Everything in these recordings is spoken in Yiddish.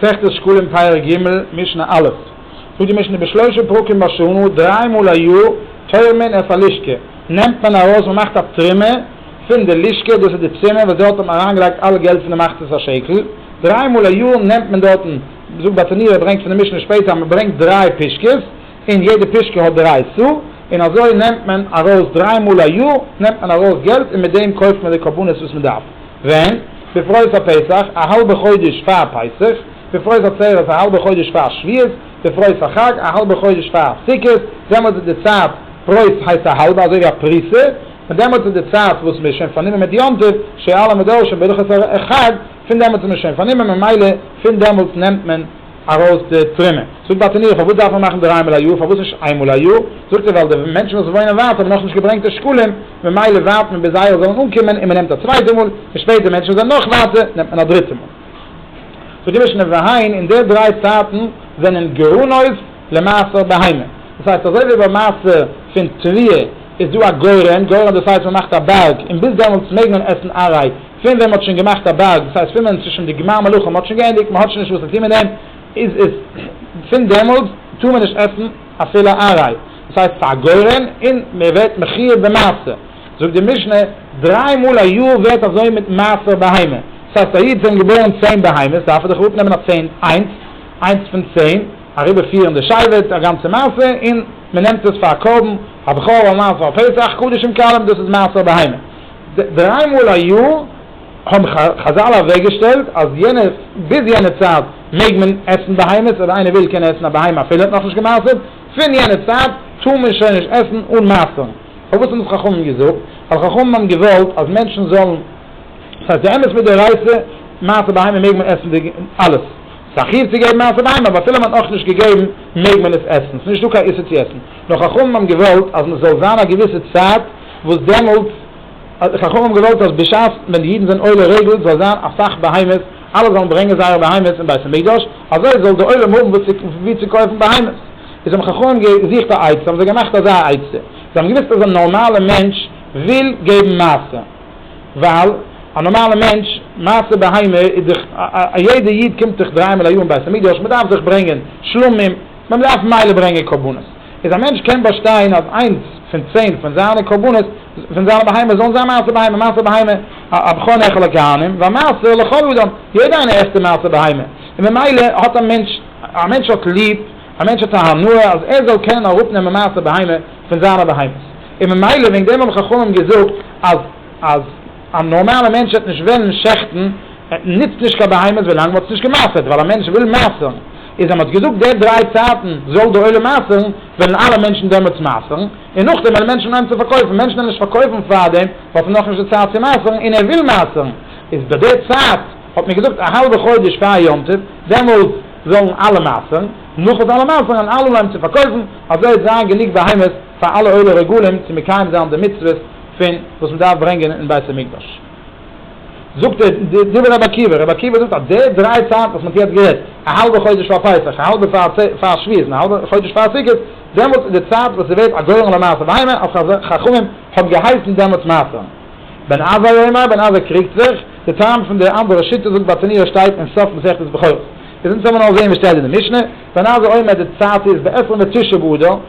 מסכת שקלים פרק ג' משנה א' זאגט די משנה בשלושה פרקים בשנה דריי מאל א יאר טויערט מען אויף א לשכה נעמט מען ארויס מען מאכט א תרומה פון די לשכה דאס איז די צימער וואס דארט האט מען אריינגעלייגט אלע געלט פון די מחצית השקל דריי מאל א יאר נעמט מען דארטן זאגט באטעניו ער ברענגט פון די משנה שפעטער אז מען ברענגט דריי פישקעס און יעדע פישקע האט דריי סאה און אזוי נעמט מען ארויס דריי מאל א יאר נעמט מען ארויס געלט און מיט דעם קויפט מען די קרבנות וואס מען דארף. ווען? בפרעות הפסח, א האלבע חודש פאר פסח, בפרעות עצרת, א האלבע חודש פאר שביעות, בפרעות החג, א האלבע חודש פאר סוכות, דעמאלטס איז די צייט, פרעות הייסט א האלבע אזוי ווי א פריסה, און דעמאלטס איז די צייט וואס מען איז שוין פארנומען מיט יום טוב, שעל המדרשים בהלכות החג, פון דעמאלטס איז מען שוין פארנומען ממילא פון דעמאלטס נעמט מען. ארויס די טרימע. זאגט די תניא, פארוואס דארף מען מאכן דריי מאל א יאר, פארוואס נישט איין מאל א יאר? זאגט ער, ווייל די מענטשן וואס וואוינען ווייט האבן נאכנישט געברענגט די שקלים, ממילא ווארט מען ביז זייערע זאלן אנקומען און מען נעמט א צווייטע מאל, און שפעט די מענטשן וואס זענען נאך ווייטער נעמט מען א דריטע מאל. זאגט די משנה והעין, און די דריי צייטן זענען גרנות למעשר בהמה. דאס הייסט אזוי ווי ביים מעשה פון תבואה איז דא א גורן, גורן דאס הייסט מען מאכט א בארג און ביז דעמאלטס מעג מען עסן ארעי, פון ווען מען האט שוין געמאכט א בארג, דאס הייסט פון ווען צווישן די גמר מלאכה מען האט שוין געענדיגט מען האט שוין נישט וואס צו טון מיט דעם, איז עס פון דעמאלטס טאר מען נישט עסן אפילו א איינריי, דאס הייסט פארגוירען, און מען ווערט מחי' במעשר, זאגט די משנה, דריי מאל א יאר ווערט אזוי מיט מעשר בהמה, דאס הייסט א איד זענען געבוירן צען בהמות דארף ער דאך אראפ נעמען א צען איינס, איינס פון צען, אריבער פירן די שבט, א גאנצע מעשה, און מען נעמט עס פאר א קרבן, א בכור, א מעשר, א פסח, קדשים קלים, דאס איז מעשר בהמה. דריי מאל א יאר האבן חזל אוועקגעשטעלט אז יענע ביז יענע צייט מעג מען עסן בהמות אויב איינער וויל קען עסן א בהמה אפילו ער האט נאכנישט געמעשר'ט, פון יענע צייט טאר מען שוין נישט עסן אן מעשר'ן. פארוואס האבן עס חכמים געזאגט? ווייל חכמים האבן געוואלט אז מענטשן זאלן, ס'הייסט די אמת מדאורייתא מעשר בהמה מעג מען עסן אלעס, ס'איז א חיוב צו געבן מעשר בהמה אבער אפילו מען האט נאכנישט געגעבן מעג מען עס עסן, ס'איז נישטא קיין איסור צו עסן, נאר חכמים האבן געוואלט אז מען זאל זיין א געוויסע צייט, וואס דעמאלטס האט דער חכם געוואלט אז בשעת ווען די אידן זענען עולי רגל זאל זיין אסאך בהמות, אלע זאלן ברענגען זייערע בהמות אין בית המקדש, אזוי זאל דער עולם האבן וואו צו קויפן בהמות. איז האבן חכמים געזוכט א עצה, האבן זיי געמאכט אזא עצה, זיי האבן געוואוסט אז א נארמאלע מענטש וויל געבן מעשר, ווייל א נארמאלע מענטש, מעשר בהמה איז דאך, א יעדע איד קומט דאך דריי מאל א יאר אין בית המקדש, מען דארף דאך ברענגען שלמים, מען דארף ממילא ברענגען קרבנות. איז א מענטש קען באשטיין אז איינס פון צען פון זיינע קרבנות פון זיינע בהמות זאלן זיין מעשר בהמה, מעשר בהמה הבכור נאכל הכהנים והמעשר לכל אדם, יעדער איינער עסט די מעשר בהמה, און ממילא האט א מענטש, א מענטש האט ליב, א מענטש האט א הנאה אז ער זאל קענען אראפ נעמען מעשר בהמה פון זיינע בהמות, און ממילא וועגן דעם האבן חכמים געזאגט אז אז. א נארמאלע מענטש העט נישט וועלן שעכטן, ער נוצט נישט קיין בהמות ווילאנג מען האט עס נישט געמסר'ט, ווייל א מענטש וויל מעשר'ן, איז אז מען האט געזאגט די דריי צייטן זאל די עולם מעשר'ן, וועלן אלע מענטשן דעמאלטס מעשר'ן, און נאכדעם וועלן מענטשן אנהייבן צו פארקויפן, מענטשן וועלן נישט פארקויפן פארדעם ווייל עס איז נאכנישט די צייט צו מעשר'ן און ער וויל מעשר'ן, איז ביי די צייט האט מען געזאגט א האלבע חודש פאר יום טוב, דעמאלטס זאלן אלע מעשר'ן, נאך וואס אלע מעשר'ן און אלע אנהייבן צו פארקויפן, אזוי העט זיין גענוג בהמות פאר אלע עולה רגלים צו מקיים זיין די מצוות פון וואס מען דארף ברענגען אין בית המקדש, זאגט ער די דברי רבי עקיבא, רבי עקיבא זאגט אז די דריי צייטן וואס מען האט יעצט גערעדט, א האלבע חודש פאר פסח, א האלבע פאר שביעית, און א האלבע חודש פאר סוכות, דעמאלטס איז די צייט וואס עס ווערט א גורם למעשה ווארימער, אויף חכמים האבן געהייסן דעמאלטס מעשרם בן עזאי אומר, בן עזאי קריגט זיך, די טעם פון די אנדערע שיטה זאגט ביי תניאו שטייט אין סוף מסכת בכורות, איז אונז העמער נאר זעהן וואס שטייט אין די משנה, בן עזאי אומר די צייט איז בעשרים ותשעה באדר,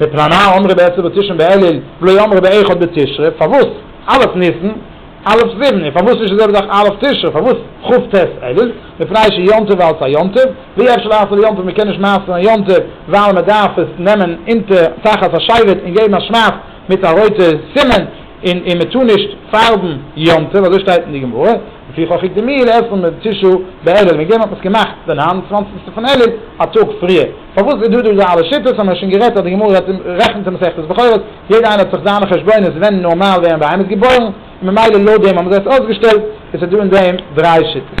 מפני מה אמרו בעשרה בתשרי באלול ולא אמרו באחד בתשרי, פארוואס א' ניסן, א' סיוון, און פארוואס נישט די זעלבע זאך א' תשרי, פארוואס כ' ט' אלול, מפני שיום טוב אלס א יום טוב, ווי אפשר לעשות יום טוב, מ'קען נישט מעשר'ן א יום טוב ווייל מ'דארף עס נעמען אונטער תחת השבט און געבן א שמאכט מיט א רויטע סימן, און און מ'טאר נישט פארבן יום טוב, אזוי שטייט אין די גמרא, לפי חכי דמי לעשרה בתשרי באלול, וועגן דעם האט מען עס געמאכט די ניין און צוואנציגסטע פון אלול א טאג פריער. פארוואס איז דא דא אזא אלע שיטות, האמער שוין גערעדט אז די גמרא רעדט אין רעכנט אין מסכת בכורות, יעדע איינער האט זיך זיינע חשבונות ווען נארמאל ווערן בהמות געבוירן, און ממילא לויט דעם האבן זיי עס אויסגעשטעלט, עס איז דא אין דעם דריי שיטות.